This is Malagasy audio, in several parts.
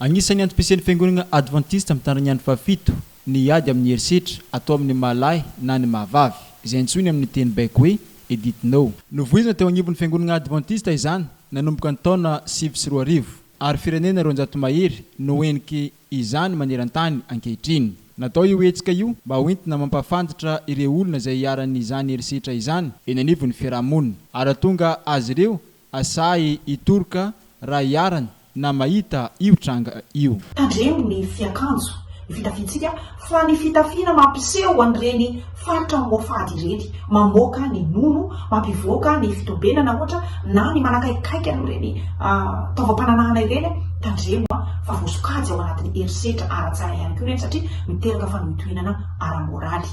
Anisan'ny antom-pisian'ny Fiangonana Advantista Mitandrina ny Andro Fahafito ny hiady amin'ny herisetra atao amin'ny maha-lahy na ny maha-vavy, izay antsoiny amin'ny teny baiko hoe Edit No. Novoizina teo anivon'ny Fiangonana Advantista izany nanomboka ny taona sivy sy roa arivo, ary firenena roanjato mahery no heniky izany maneran-tany ankehitriny. Natao io hetsika io mba ho entina mampahafantatra ireo olona izay iharan'izany herisetra izany eny anivon'ny fiaraha-monina, ary hahatonga azy ireo Asahy hitoroka raha iharany na mahita io tranga io. Tandremo ny fiakanjo, ny fitafiantsika fa ny fitafiana mampiseho an'ireny faritra Mohafady ireny, mamoaka ny nono, mampivoaka ny fitobenana ohatra na ny manakaikaika an'ireny taovam-pananahana ireny, tandremo fa voasokajy ao anatin'ny herisetra ara-tsaina ihany koa ireny satria miteraka fanohitohinana ara-moraly.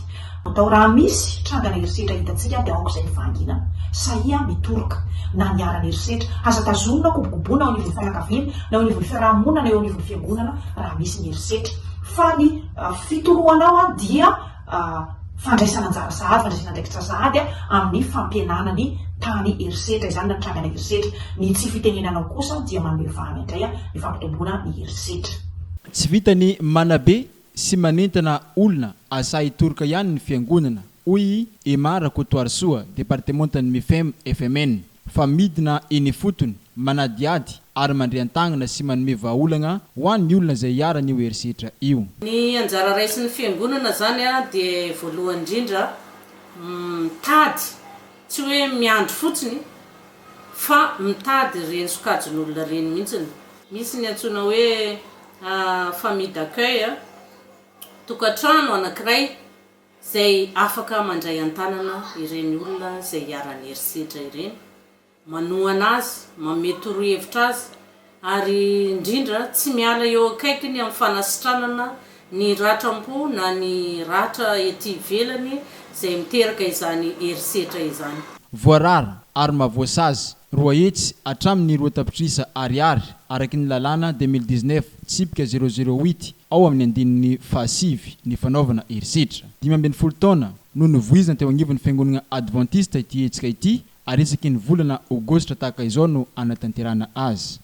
Atao raha misy trangana herisetra hitantsika dia aoka izay ny fahanginana. Sahia mitoroka na niharan'ny herisetra. Aza tazonina kobokoboina ao anivon'ny fianakaviana, na eo anivon'ny fiarahamonina na eo anivon'ny fiangonana raha misy ny herisetra. Fa ny fitoroanao dia fandraisana anjara sahady, fandraisana andraikitra sahady amin'ny fampihenana ny tany herisetra izany na ny trangana herisetra. Ny tsy fitenenanao kosa dia manome vahana indray ny fampitomboana ny herisetra. Tsy vitan'ny manabe sy manentana olona asahy hitoroka ihany ny fiangonana, hoy i Emma Rakotoarisoa, departemantan'ny Mifem FMN, fa midina eny ifotony, manadihady ary mandre an-tagnana sy manome vahaolagna ho an'ny olona izay iharan'io herisetra io. Ny anjara raisin'ny fiangonana izany dia voalohany indrindra mitady, tsy hoe miandry fotsiny, fa mitady ireny sokajin'olona ireny mihitsy. Misy ny antsoina hoe a famille d'accueil a tokantrano anankiray izay afaka mandray an-tanana ireny olona izay iharan'ny herisetra ireny, manohana azy, manome torohevitra azy ary indrindra tsy miala eo akaikiny amin'ny fanasitranana ny ratram-po na ny ratra ety ivelany izay miteraka izany herisetra izany. Voarara ary mahavoasazy Roa hetsy hatramin' ny roa tapitrisa Ariary, araka ny lalàna de mille dix neuf tsipika zéro zéro huit ao amin' ny andininy fahasivy, ny fanaovana herisetra. Dimy ambin'ny folo taona no novoizina teo anivon' ny Fiangonana Advantista ity hetsika ity, ary isaky ny volana Aogositra tahaka izao no hanatanterahana azy.